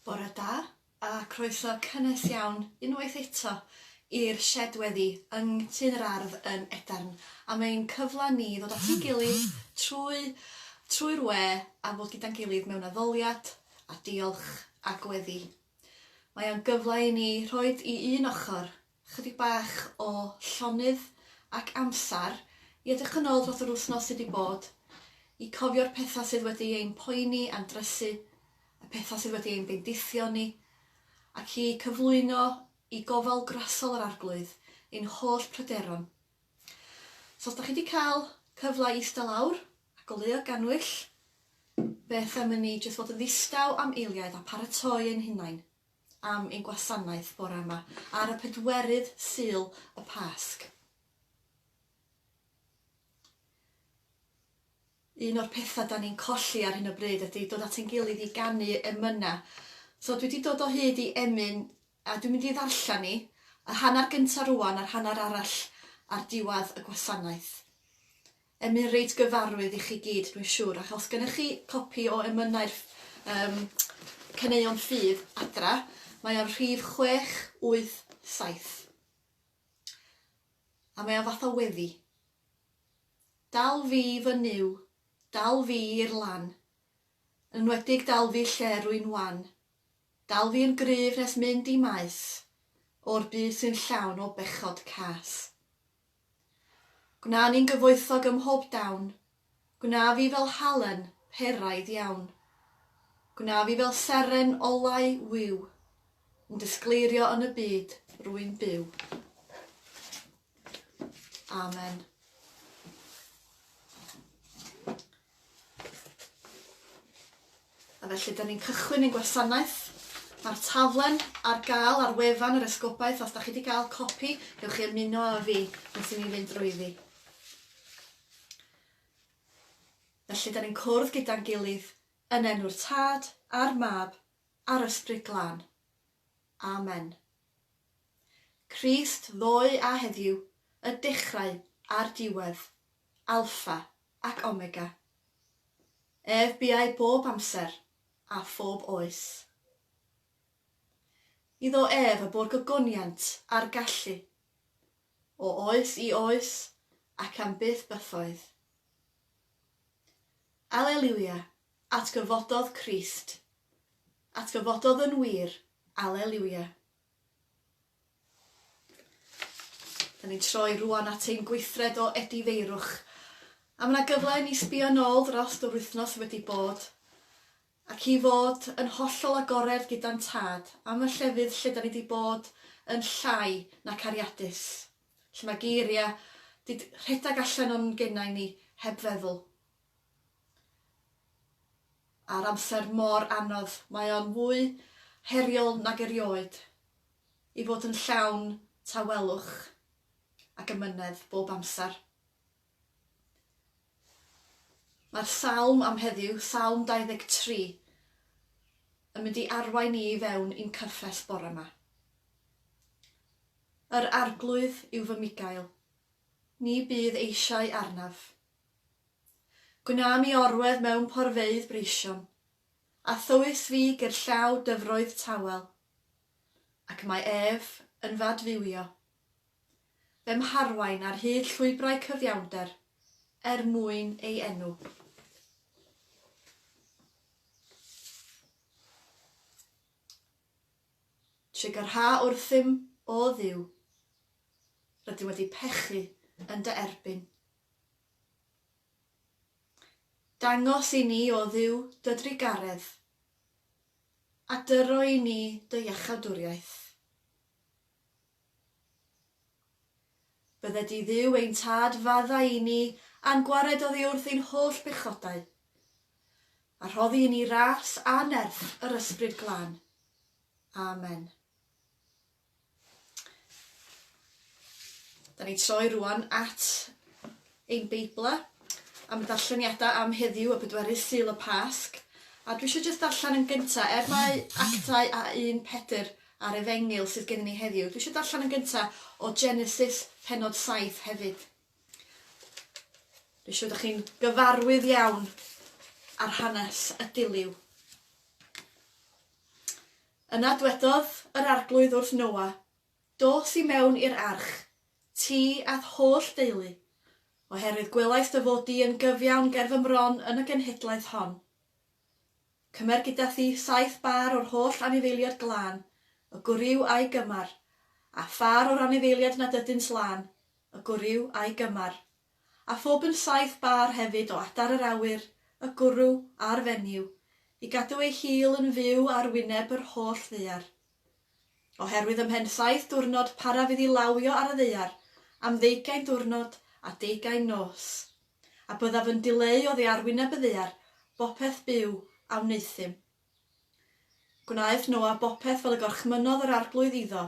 Bore da, a croeso cynnes iawn unwaith eto i'r Shed Weddi yng Nghtyn yr Ardd yn Edarn, am ein cyfle ni i ddod at ein gilydd trwy trwy'r we a fod gyda'n gilydd mewn addoliad a diolch a gweddi. Mae o'n gyfle i ni rhoid i un ochr chydig bach o llonydd ac amsar i edrych yn ôl dros yr wythnos sy 'di bod, i cofio'r petha sydd wedi ein poeni a'n drysu, y petha sydd wedi ein bendithio ni, ac i cyflwyno i gofal grasol yr Arglwydd ein holl pryderon. So os 'da chi 'di cael cyfle i ista lawr a goleuo gannwyll, beth am i ni jyst fod yn ddistaw am eiliaid a paratoi ein hunain? am ein gwasanaeth bore yma, ar y pedwerydd Sul y Pasg. Un o'r pethau da ni'n colli ar hyn o bryd ydy dod at ein gilydd i ganu emynau. So dwi wedi dod o hyd i emyn a dwi'n mynd i ddarllen ni, y hanner gyntaf rwan a'r hanner arall ar diwedd y gwasanaeth. Emyn reit gyfarwydd i chi gyd dwi'n siwr ac os gennych chi copi o emynau'r yym caneuon ffydd adra mae o'n rhif chwech wyth saith a mae o fath o weddi Dal fi fy Nuw, dal fi i'r lan, yn enwedig dal fi lle rwy'n wan, dal fi yn gryf nes mynd i maes o'r byd sy'n llawn o bechod cas. Gwna ni'n gyfoethog ym mhob dawn, gwna fi fel halen peraidd iawn. Gwna fi fel seren olau wiw, yn disgleirio yn y byd rwy'n byw. Amen. A felly, da ni'n cychwyn ein gwasanaeth. Mae'r taflen ar gael ar wefan yr Esgobaeth. Os da chi wedi cael copi, gewch chi ymuno â fi wrth i ni fynd drwyddi. Felly, da ni'n cwrdd gyda'n gilydd yn enw'r Tad a'r Mab a'r Ysbryd Glân. Amen. Crist ddoe a heddiw, y dechrau a'r diwedd, Alfa ac Omega. Ef buai bob amser, a phob oes. Iddo ef y bu'r gogoniant a'r gallu, o oes i oes ac am byth bythoedd. Aleliwia, atgyfododd Crist. Atgyfododd yn wir, Aleliwia. Da ni'n troi rwan at ein gweithred o edifeirwch, a mae yna gyfle i ni sbio nôl drost yr wythnos wedi bod, ac i fod yn hollol agored gyda'n Tad am y llefydd lle da ni wedi bod yn llai na cariadus, lle mae geiriau wedi rhedeg allan o'n genau ni heb feddwl. Ar amser mor anodd, mae o'n fwy heriol nag erioed i fod yn llawn tawelwch ac amynedd bob amser. Mae'r salm am heddiw, Salm 23, yn mynd i arwain ni i fewn i'n cyffes bore 'ma. Yr Arglwydd yw fy migail, ni bydd eisiau arnaf. Gwna mi orwedd mewn porfeydd breision, a thywys fi gerllaw dyfroedd tawel. Ac mae ef yn fadfywio. Fe 'mharwain ar hyd llwybrau cyfiawnder er mwyn ei enw. Trigarha wrthym, O Dduw. Rydym wedi pechu yn dy erbyn. Dangos i ni, O Dduw, dy drugaredd, a dyro i ni dy iachawdwriaeth. Bydde di Dduw ein Tad faddau i ni a'n gwared oddi wrth ein holl bechodau, a rhoddi i ni ras annerth yr Ysbryd Glân. Amen. Da ni'n troi rwan at ein Beiblau am y darlleniadau am heddiw, y pedwerydd Sul y Pasg. A dwi eisiau jyst darllen yn gyntaf, er mae actau a un Pedr a'r Efengyl sydd gennym ni heddiw, dwi eisiau darllen yn gyntaf o Genesis penod 7 hefyd. Dwi'n siŵr ydych chi'n gyfarwydd iawn ar hanes y diliw. Yna dwedodd yr Arglwydd wrth Noa, Dos i mewn i'r arch, ti a'th holl deulu, oherwydd gwelais dy fod di yn gyfiawn ger fy mron yn y genhedlaeth hon. Cymer gyda thi saith bâr o'r holl anifeiliad glân, y gwryw a'i gymar, a phâr o'r anifeiliad nad ydynt lân, y gwryw a'i gymar. a phob yn saith bâr hefyd o adar yr awyr, y gwrw, a'r fenyw, i gadw ei hil yn fyw ar wyneb yr holl ddaear. Oherwydd ymhen saith diwrnod paraf iddi lawio ar y ddaear, am ddeugain diwrnod a deugain nos, a byddaf yn dileu oddi ar wyneb y ddaear bopeth byw a wneuthum. Gwnaeth Noa bopeth fel y gorchmynnodd yr Arglwydd iddo,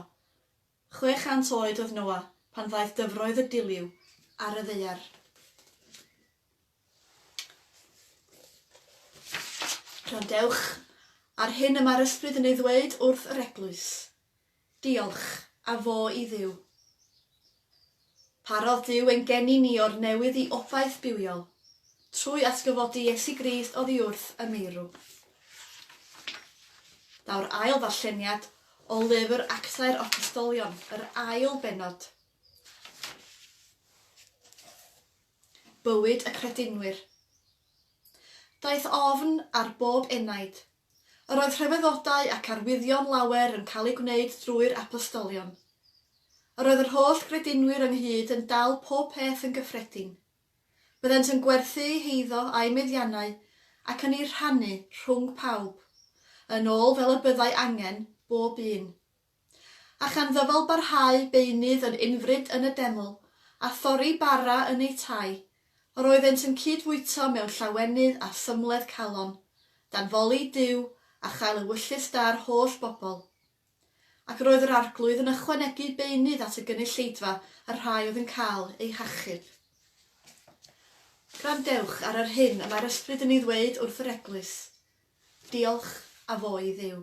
Chwe chant oed oedd Noa pan ddaeth dyfroedd y diliw ar y ddaear. Gwrandewch ar hyn y mae'r Ysbryd yn ei ddweud wrth yr Eglwys. Diolch, a fo i Dduw. Parodd Duw ein geni ni o'r newydd i obaith bywiol, trwy atgyfodi Iesu Grist oddiwrth y meirw. Daw'r ail ddarlleniad o lyfr Actau'r Apostolion, yr ail bennod. Bywyd y credinwyr. Daeth ofn ar bob enaid, Yr oedd rhyfeddodau ac arwyddion lawer yn cael eu gwneud drwy'r apostolion. Yr oedd yr holl gredinwyr ynghyd yn dal pob peth yn gyffredin. Byddent yn gwerthu eu heiddo a'u meddiannau ac yn eu rhannu rhwng pawb, yn ôl fel y byddai angen, bob un. A chan ddyfal barhau beunydd yn unfryd yn y deml, a thorri bara yn eu tai, yr oeddent yn cyd-fwyto mewn llawenydd a thymledd calon, danfoli i Duw, a chael ewyllys da'r holl bobl. Ac roedd yr Arglwydd yn ychwanegu beunydd at y gynulleidfa y rhai oedd yn cael eu hachub. Gwrandewch ar yr hyn y mae'r Ysbryd yn ei ddweud wrth yr Eglwys. Diolch a fo i Dduw.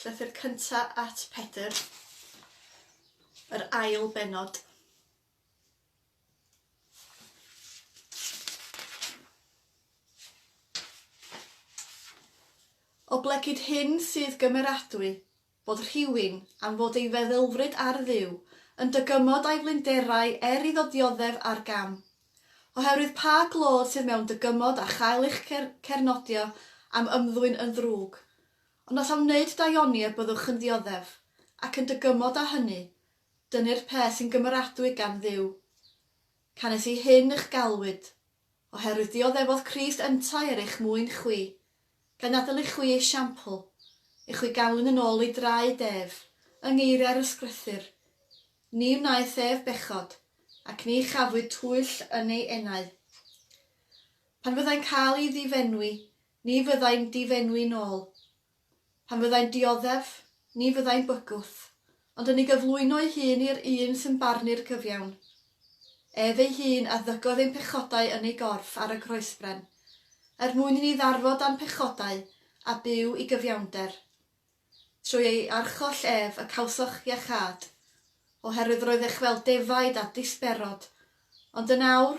Llythyr cynta at Pedr, yr ail benod. Oblegid hyn sydd gymeradwy, bod rhywun, am fod ei feddylfryd ar Dduw, yn dygymod â'i flinderau er iddo dioddef ar gam. Oherwydd pa glod sydd mewn dygymod a chael eich cernodio am ymddwyn yn ddrwg? Ond os am wneud daioni y byddwch yn ddioddef, ac yn dygymod â hynny, dynu'r peth sy'n gymeradwy gan Dduw. Canys i hyn ych galwyd. Oherwydd dioddefodd Crist yntau er eich mwyn chwi, gan adael i chwi esiampl, i chwi ganlyn yn ôl ei draed ef, yng ngeiriau'r Ysgrythur, Ni wnaeth ef bechod, ac ni chafwyd twyll yn ei enau. Pan fyddai'n cael ei ddifenwi, ni fyddai'n difenwi nôl, Pan fyddai'n dioddef, ni fyddai'n bygwth, ond yn ei gyflwyno'i hun i'r Un sy'n barnu'r cyfiawn. Ef ei hun a ddygodd ein pechodau yn ei gorff ar y Groesbren, er mwyn i ni ddarfod â'n pechodau a byw i gyfiawnder. Trwy ei archoll ef y cawsoch iachâd, oherwydd roeddech fel defaid a disberod, ond yn awr,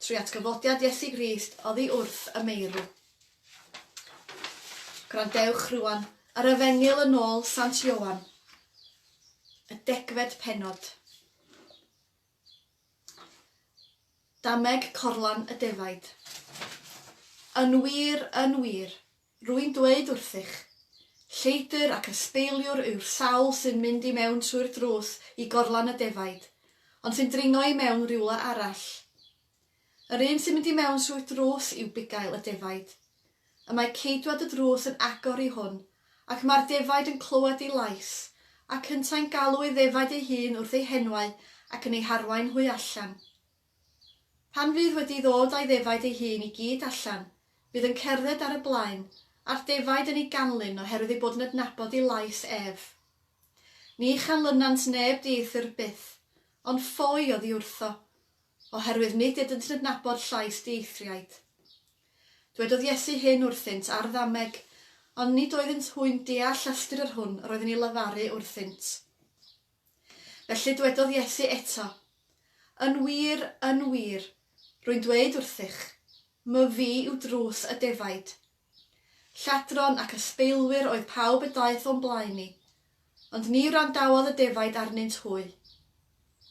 Trwy atgyfodiad Iesu Grist oddi wrth y meirw. Gwrandewch rŵan ar Efengyl yn ôl Sant Ioan, y degfed pennod. Dameg corlan y defaid. Yn wir, yn wir, Rwy'n dweud wrthych, lleidr ac ysbeiliwr yw'r sawl sy'n mynd i mewn trwy'r drws i gorlan y defaid, ond sy'n dringo i mewn rywle arall. Yr un sy'n mynd i mewn trwy'r drws yw bugail y defaid. Y mae ceidwad y drws yn agor i hwn, ac mae'r defaid yn clywed ei lais, ac yntau'n galw ei ddefaid ei hun wrth ei henwau ac yn ei harwain hwy allan. Pan fydd wedi ddod a'i ddefaid ei hun i gyd allan, bydd yn cerdded ar y blaen, a'r defaid yn ei ganlyn oherwydd ei bod yn adnabod ei lais ef. Ni chanlynant neb dieithr byth, ond ffoi oddi wrtho, oherwydd nid ydynt yn adnabod llais dieithriaid. Dwedodd Iesu hyn wrthynt ar ddameg, ond nid oeddynt hwy'n deall ystyr yr hwn roedd yn ei lefaru wrthynt. Felly dwedodd Iesu eto, Yn wir, yn wir, rwy'n dweud wrthych, Mwy fi yw drws y defaid. Lladron ac ysbeilwyr oedd pawb y daeth o'm blaen i, ond ni wrandawodd y defaid arnynt hwy.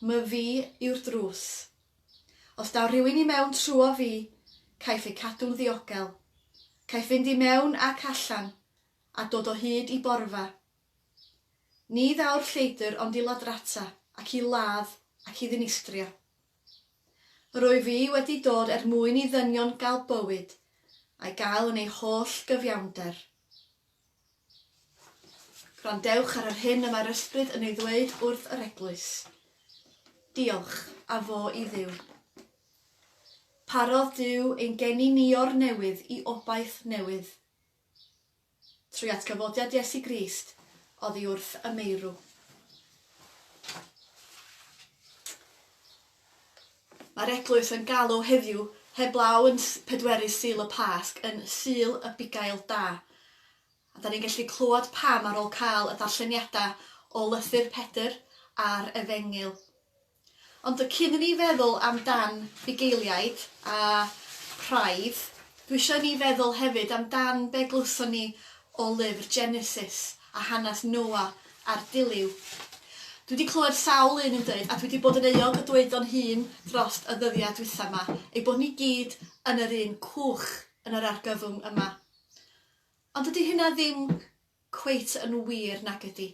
Mwy fi yw'r drws. Os daw rhywun i mewn trwyo fi, caiff ei cadw'n ddiogel. Caiff fynd i mewn ac allan, a dod o hyd i borfa. Ni ddaw'r lleidr ond i ladrata, ac i ladd, ac i ddinistrio. Yr wyf fi wedi dod er mwyn i ddynion gael bywyd, a'i gael yn ei holl gyfiawnder. Gwrandewch ar yr hyn y mae'r Ysbryd yn ei ddweud wrth yr eglwys. Diolch, a fo i Dduw. Parodd Duw ein geni ni o'r newydd i obaith newydd, Trwy atgyfodiad Iesu Grist oddi wrth y meirw. Mae'r Eglwys yn galw heddiw, heblaw yn pedwerydd Sul y Pasg, yn Sul y Bugail Da. A da ni'n gallu clywed pam ar ôl cael y darlleniadau o lythyr Pedr a'r Efengyl. Ond cyn i ni feddwl amdan bugeiliaid a praidd, dwi isio i ni feddwl hefyd amdan be glywson ni o lyfr Genesis a hanes Noa a'r Diliw. Dwi 'di clywed sawl un yn deud, a dwi 'di bod yn euog o dweud o'n hun drost y ddyddia dwytha 'ma, ei bod ni gyd yn yr un cwch yn yr argyfwng yma. Ond dydi hynna ddim cweit yn wir nag ydi.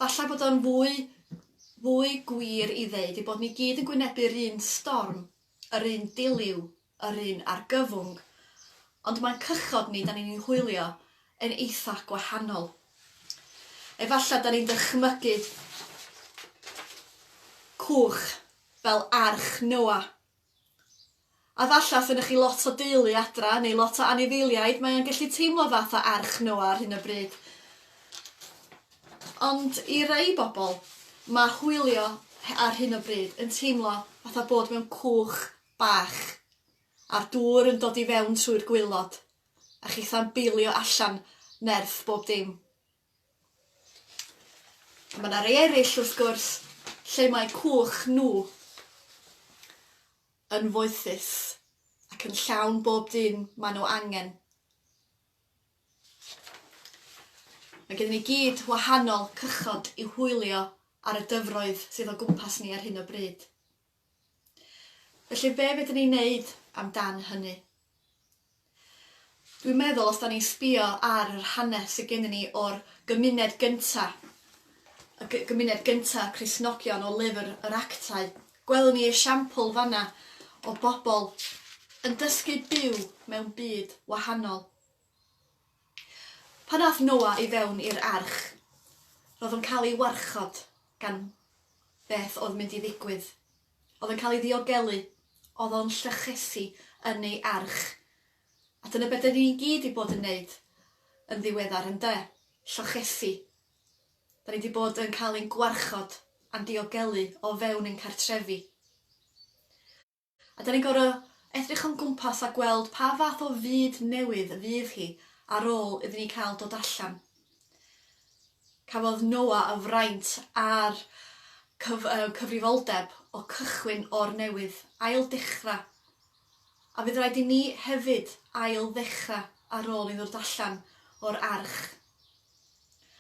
Falla bod o'n fwy fwy gwir i ddeud ei bod ni gyd yn gwynebu'r un storm, yr un diliw, yr un argyfwng, ond ma'n cychod ni 'dan ni'n ei hwylio yn eitha gwahanol. Efalla 'dan ni'n dychmygu cwch fel arch Noa A falla fy chi lot o deulu adra neu lot o anifeiliaid, mae o'n gallu teimlo fath o arch Noa ar hyn o bryd. Ond i rei bobl, mae hwylio ar hyn o bryd yn teimlo fatha bod mewn cwch bach, a'r dŵr yn dod i fewn trwy'r gwaelod, a chithau'n beilio allan nerth bob dim. Mae yna rei eraill, wrth gwrs, lle mae cwch nhw yn foethus ac yn llawn bob dim maen nhw angen. Mae gen ni gyd wahanol cychod i hwylio ar y dyfroedd sydd o gwmpas ni ar hyn o bryd. Felly be fedrwn ni wneud am dan hynny? Dwi'n meddwl os da ni'n sbio ar yr hanes sydd gennym ni o'r gymuned gynta', y gymuned gynta' Cristnogion o lyfr yr Actau, gwelwn ni esiampl fanna o bobl yn dysgu byw mewn byd wahanol. Pan aeth Noa i fewn i'r arch, roedd o'n cael ei warchod gan beth oedd mynd i ddigwydd. Oedd yn cael ei ddiogelu. Oedd o'n llechesu yn ei arch. A dyna be' 'dyn ni i gyd 'di bod yn neud yn ddiweddar, ynde? Llochesu. 'Da ni 'di bod yn cael ein gwarchod a'n diogelu o fewn ein cartrefi. A 'dan ni'n gor'o' edrych o'n gwmpas a gweld pa fath o fyd newydd y fydd hi ar ôl iddyn ni cael dod allan. Cafodd Noah y fraint a'r cyf- yy cyfrifoldeb o cychwyn o'r newydd, ail dechra. A fydd rhaid i ni hefyd ail ddechra ar ôl i ddod allan o'r arch.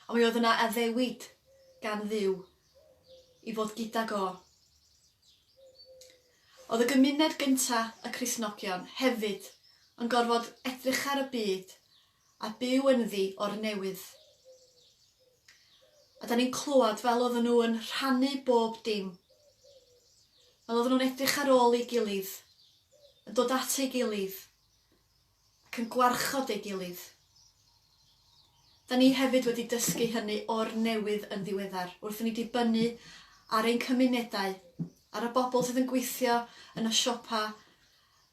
Ond mi oedd yna addewid gan Dduw i fod gydag o. Oedd y gymuned gynta', y Cristnogion, hefyd yn gorfod edrychar y byd a byw ynddi o'r newydd. A 'dan ni'n clywed fel oedden nhw yn rhannu bob dim. Fel oedden nhw'n edrych ar ôl ei gilydd, yn dod at ei gilydd, ac yn gwarchod ei gilydd. Da ni hefyd wedi dysgu hynny o'r newydd yn ddiweddar, wrth i ni dibynnu ar ein cymunedau, ar y bobl sydd yn gweithio yn y siopa,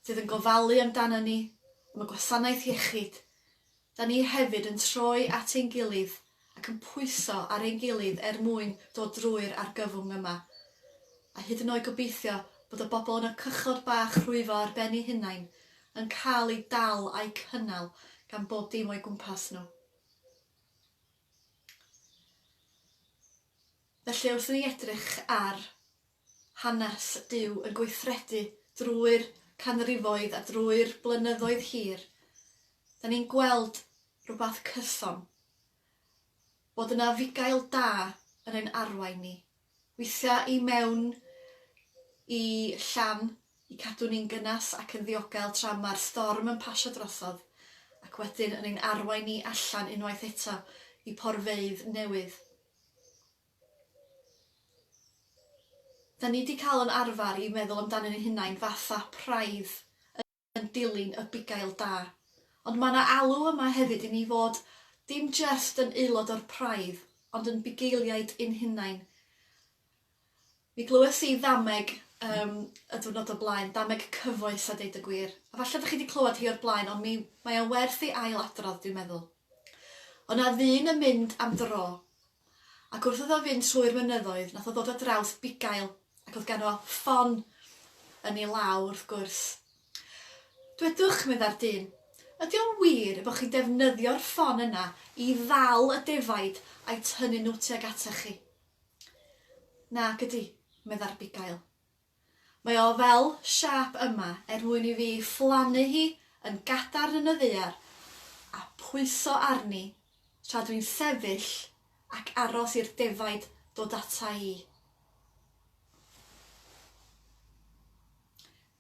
sydd yn gofalu amdana ni, am y gwasanaeth iechyd, da ni hefyd yn troi at ein gilydd ac yn pwyso ar ein gilydd er mwyn dod drwy'r argyfwng yma, a hyd yn oed gobeithio bod y bobl yn y cychod bach rhwyfo ar ben eu hunain yn cael eu dal a'u cynnal gan bob dim o'i gwmpas nhw. Felly, wrth i ni edrych ar hanes Duw yn gweithredu drwy'r canrifoedd a drwy'r blynyddoedd hir, 'dan ni'n gweld rwbath cyson, bod yna fugail da yn ein arwain ni, weithia' i mewn i llan i cadw ni'n gynas ac yn ddiogel tra ma'r storm yn pasio drosodd, ac wedyn yn ein arwain ni allan unwaith eto i porfeydd newydd. Da ni di cael yn arfer i meddwl amdanyn ni hunain fatha praidd yn dilyn y bugail da. Ond mae na alw yma hefyd i ni fod dim jyst yn aelod o'r praidd ond yn bugeiliaid yn hunain. Mi glywes i ddameg yym y diwrnod o blaen, ddameg cyfoes a deud y gwir. A falle da chi di clywed hi o'r blaen ond mi mae o'n werth ei ail adrodd dwi'n meddwl. O' na ddyn yn mynd am dro Ac wrth iddo fynd trwy'r mynyddoedd, nath o ddod ar draws bugail, ac o'dd ganddo ffon yn ei law, wrth gwrs. Dwedwch, medda'r dyn, ydy o'n wir y bo' chi'n defnyddio'r ffon yna i ddal y defaid a'i tynnu nhw tuag atach chi? Nac ydy, medda'r bugail. Mae o fel siâp yma er mwyn i fi phlannu hi yn gadarn yn y ddaear a phwyso arni tra dw i'n sefyll ac aros i'r defaid dod ata i.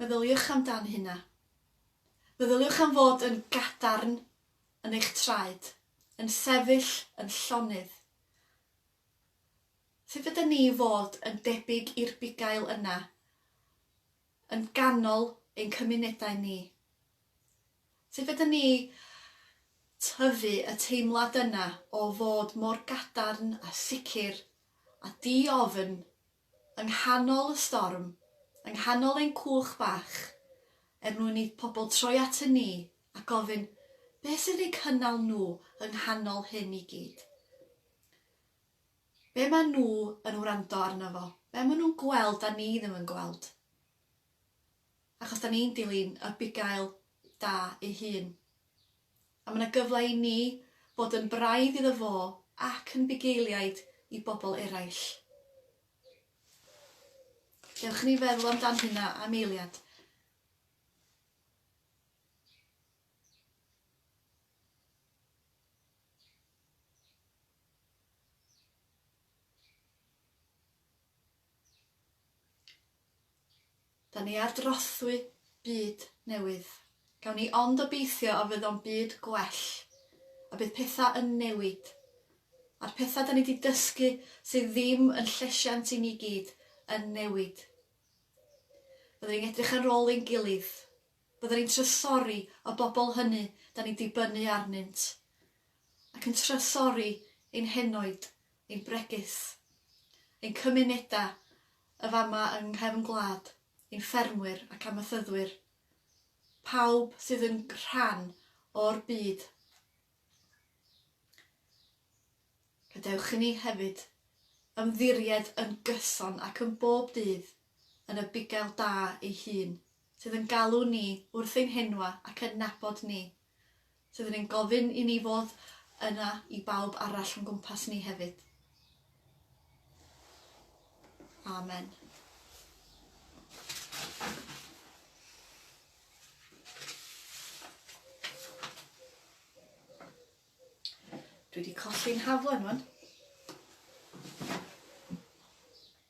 Meddyliwch amdan hynna. Meddyliwch am fod yn gadarn yn eich traed, yn sefyll yn llonydd, Sut ydyn ni i fod yn debyg i'r bugail yna yn ganol ein cymunedau ni? Sut ydyn ni i tyfu y teimlad yna o fod mor gadarn a sicr a di-ofn Yng nghanol y storm, yng nghanol ein cwch bach, er mwyn i pobl troi atyn ni a gofyn beth sy'n eu cynnal nhw yng nghanol hyn i gyd. Be maen nhw yn wrando arno fo? Be maen nhw'n gweld 'da ni ddim yn gweld? Achos 'da ni'n dilyn y bugail da ei hun. A mae 'na gyfle i ni fod yn braidd iddo fo ac yn bugeiliaid i bobl eraill. Dewch i ni feddwl amdan hynna am eiliad. Da ni ar drothwy byd newydd. Gawn ni ond obeithio y fydd o'n byd gwell, y bydd pethau yn newid. A'r pethau da ni di dysgu sydd ddim yn llesiant i ni gyd yn newid. Byddwn ni'n edrych ar ôl ein gilydd. Byddwn ni'n trysori y bobl hynny da ni'n dibynnu arnynt. Ac yn trysori ein henoed ein bregys, ein cymunedau, y fama yng nghefn gwlad, ein ffermwyr ac amaethyddwyr, pawb sydd yn rhan o'r byd. Gadewch i ni hefyd ymddiried yn gyson ac yn bob dydd yn y bugail da ei hun, sydd yn galw ni wrth ein henwa ac yn nabod ni Rydyn ni'n gofyn i ni fod yna i bawb arall o'n gwmpas ni hefyd. Amen. Dwi wedi colli'n haflen rwan.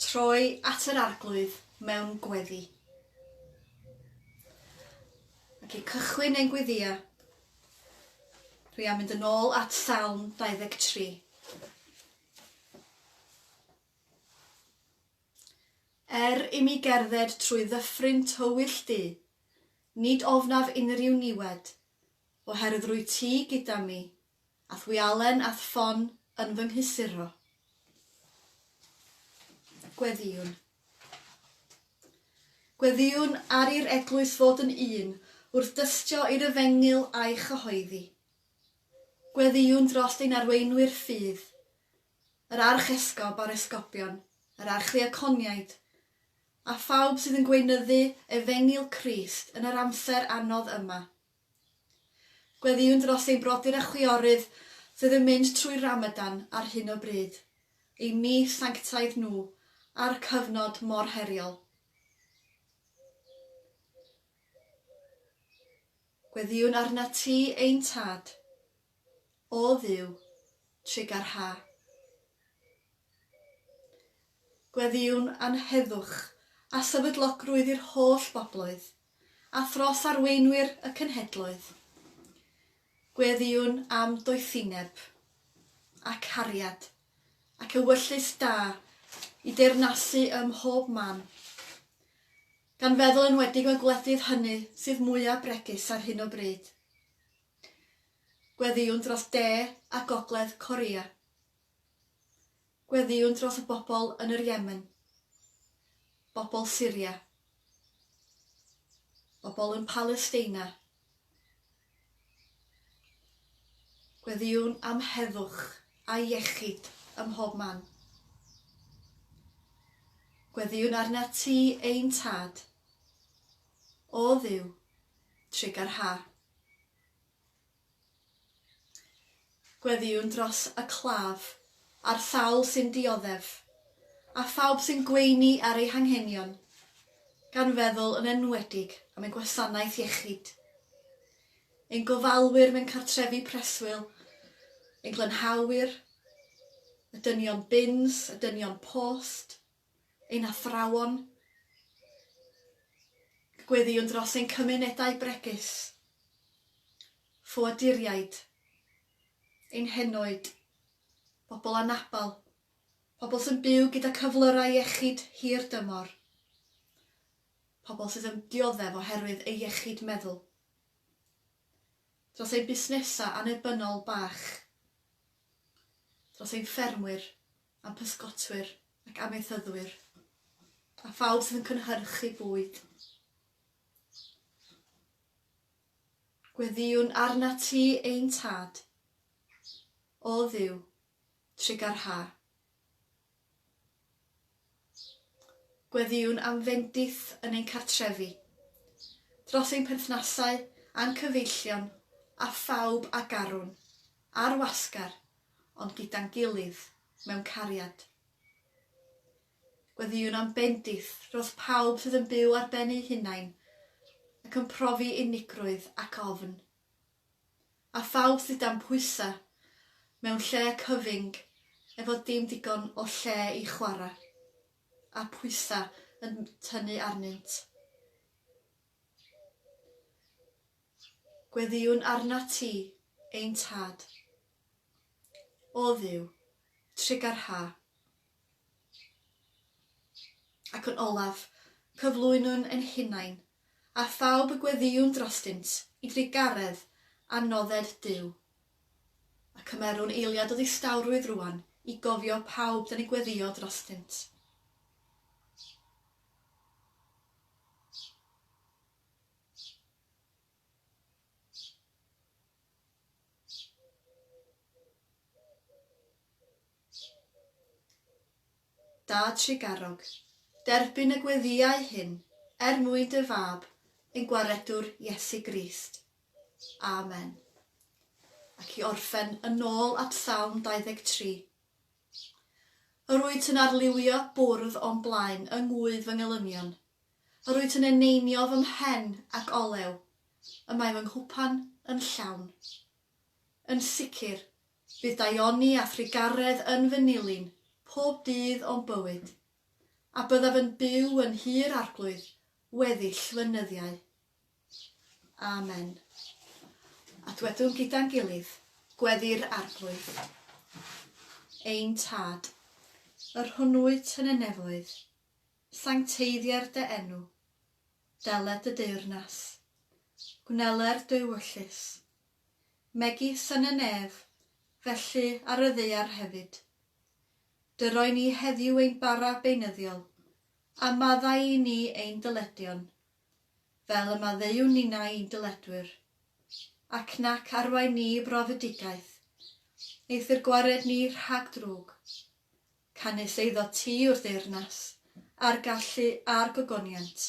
Troi at yr Arglwydd mewn gweddi. Ac i cychwyn ein gweddïau, dwi am mynd yn ôl at Salm 23. Er i mi gerdded trwy ddyffryn tywyll du, nid ofnaf unrhyw niwed, oherwydd rwy ti gyda mi, Ath wi Allen ath ffon yn fy nghysuro. Gweddïwn. Gweddïwn ar i'r eglwys fod yn un wrth dystio i'r efengyl a'i chyhoeddi. Gweddïwn drost ein arweinwyr ffydd, yr archesgob a'r esgobion, yr archdiaconiaid, a phawb sydd yn gweinyddu efengyl Crist yn yr amser anodd yma. Gweddïwn dros ein brodyr a chwiorydd sydd yn mynd trwy Ramadan ar hyn o bryd, eu mis sanctaidd nhw, a'r cyfnod mor heriol. Gweddïwn arnat ti, ein Tad. O Dduw, trugar ha. Gweddïwn am heddwch a sefydlogrwydd i'r holl bobloedd, a thros arweinwyr y cenhedloedd. Gweddïwn am doethineb, a cariad, ac ewyllys da i deyrnasu ym mhob man, gan feddwl yn wedig y gwledydd hynny sydd mwyaf bregus ar hyn o bryd. Gweddïwn dros De a Gogledd Korea. Gweddïwn dros y bobl yn yr Yemen. Bobl Syria. Bobl yn Palesteina. Gweddïwn am heddwch a iechyd ym mhob man. Gweddïwn arnat ti, ein Tad. O Dduw, trigger ha. Gweddïwn dros y claf, a'r sawl sy'n dioddef, a phawb sy'n gweini ar eu hanghenion, gan feddwl yn enwedig am ein gwasanaeth iechyd, ein gofalwyr mewn cartrefi preswyl, ein glanhawyr, y dynion bins, y dynion post, ein athrawon, gweddïwn dros ein cymunedau bregus, ffoaduriaid, ein henoed, pobl anabl, pobl sy'n byw gyda cyflyrau iechyd hir dymor, pobl sydd yn dioddef oherwydd eu iechyd meddwl, dros ein busnesau annibynnol bach, dros ein ffermwyr, a'n pysgotwyr ac amaethyddwyr, a phawb sydd yn cynhyrchu bwyd. Gweddïwn arnat ti, ein Tad, o Dduw, trugarha. Gweddïwn am fendith yn ein cartrefi, dros ein perthnasau a'n cyfeillion a phawb a garwn, ar wasgar, ond gyda'n gilydd, mewn cariad. Gweddïwn am bendith dros pawb sydd yn byw ar ben eu hunain ac yn profi unigrwydd ac ofn, A phawb sydd dan pwysa, mewn lle cyfyng, efo dim digon o lle i chwara, a pwysa yn tynnu arnynt. Gweddïwn arnat ti, ein Tad. O Dduw, trugarha. Ac yn olaf, cyflwynwn yn hunain, a phawb y gweddïwn drostynt, i drugaredd a nodded Duw. A cymerwn eiliad o ddistawrwydd rŵan i gofio pawb da ni gweddïo drostynt. Da Tregarog, derbyn y gweddïau hyn er mwyn dy Fab, ein Gwaredwr Iesu Grist. Amen. Ac i orffen yn ôl at Salm 23. Yr wyt yn arlywio bwrdd o'n blaen yng ngŵydd fy ngelynion. Yr wyt yn eneinio fy mhen ac olew y mae fy nghwpan yn llawn. Yn sicr, Bydd daioni a thrugaredd yn fy nilyn pob dydd o'm bywyd, a byddaf yn byw yn Nhŷ'r Arglwydd weddill fy nyddiau. Amen. A dwedwn gyda'n gilydd, Gweddi'r Arglwydd. Ein Tad, yr hwn wyt yn y nefoedd, sancteiddier dy enw. Dele dy deyrnas. Gwneler dy ewyllys. megis yn y nef, felly ar y ddaear hefyd. Dy roi ni heddiw ein bara beunyddiol, a maddau i ni ein dyledion, fel y maddeuwn ninnau i'n dyledwyr, ac nac arwain ni i brofedigaeth, eithr gwared ni rhag drwg. Canys eiddo ti yw'r deyrnas, a'r gallu, a'r gogoniant.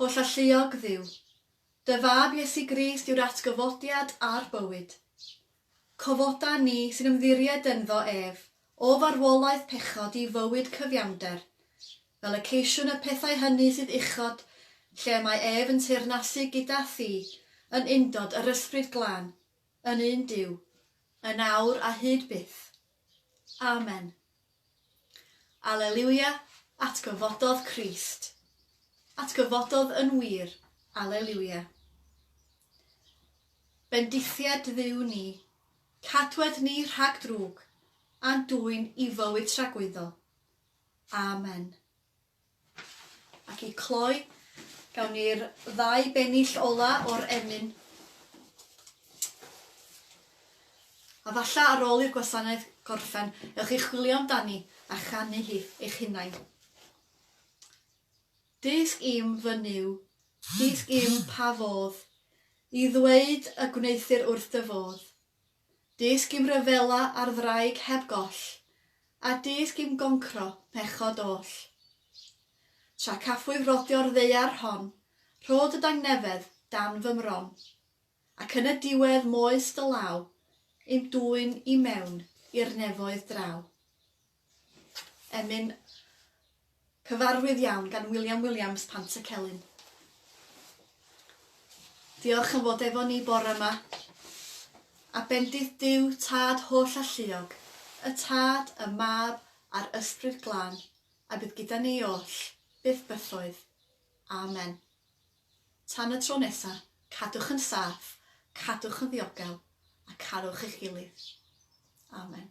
Holl alluog Dduw, Dy Fab Iesu Grist yw'r atgyfodiad a'r bywyd. Cofoda ni sy'n ymddiried ynddo ef o farwolaeth pechod i fywyd cyfiawnder, fel y ceisiwn y pethau hynny sydd uchod lle y mae ef yn teyrnasu gyda Thi yn undod yr Ysbryd Glân, yn un Duw, yn awr a hyd byth. Amen. Aleliwia, atgyfododd Crist. Atgyfododd yn wir, Aleliwia. Bendithied Dduw ni, cadwed ni rhag drwg, a'n dwyn i fywyd tragwyddol. Amen. Ac i cloi, gawn ni'r ddau bennill ola o'r emyn. A falla ar ôl i'r gwasanaeth gorffen, ewch i chwilio amdani a chanu hi eich hunain. Dysg i'm fy Nuw, dysg i'm pa fodd i ddweud y gwneuthur wrth dy fodd. Dysg i'm ryfela ar ddraig heb goll, a dysg i'm goncro pechod oll. Tra caffwyf rodio'r ddaear hon, rhod y dangnefedd dan fy mron, ac yn y diwedd moes dy law i'm dwyn i mewn i'r nefoedd draw. Emyn cyfarwydd iawn gan William Williams, Pant y Celyn. Diolch am fod efo ni bore yma. A bendith Duw, Tad holl alluog, y Tad, y Mab a'r Ysbryd Glân, a bydd gyda ni oll, byth bythoedd. Amen. Tan y tro nesa, cadwch yn saff, cadwch yn ddiogel, a carwch eich gilydd. Amen.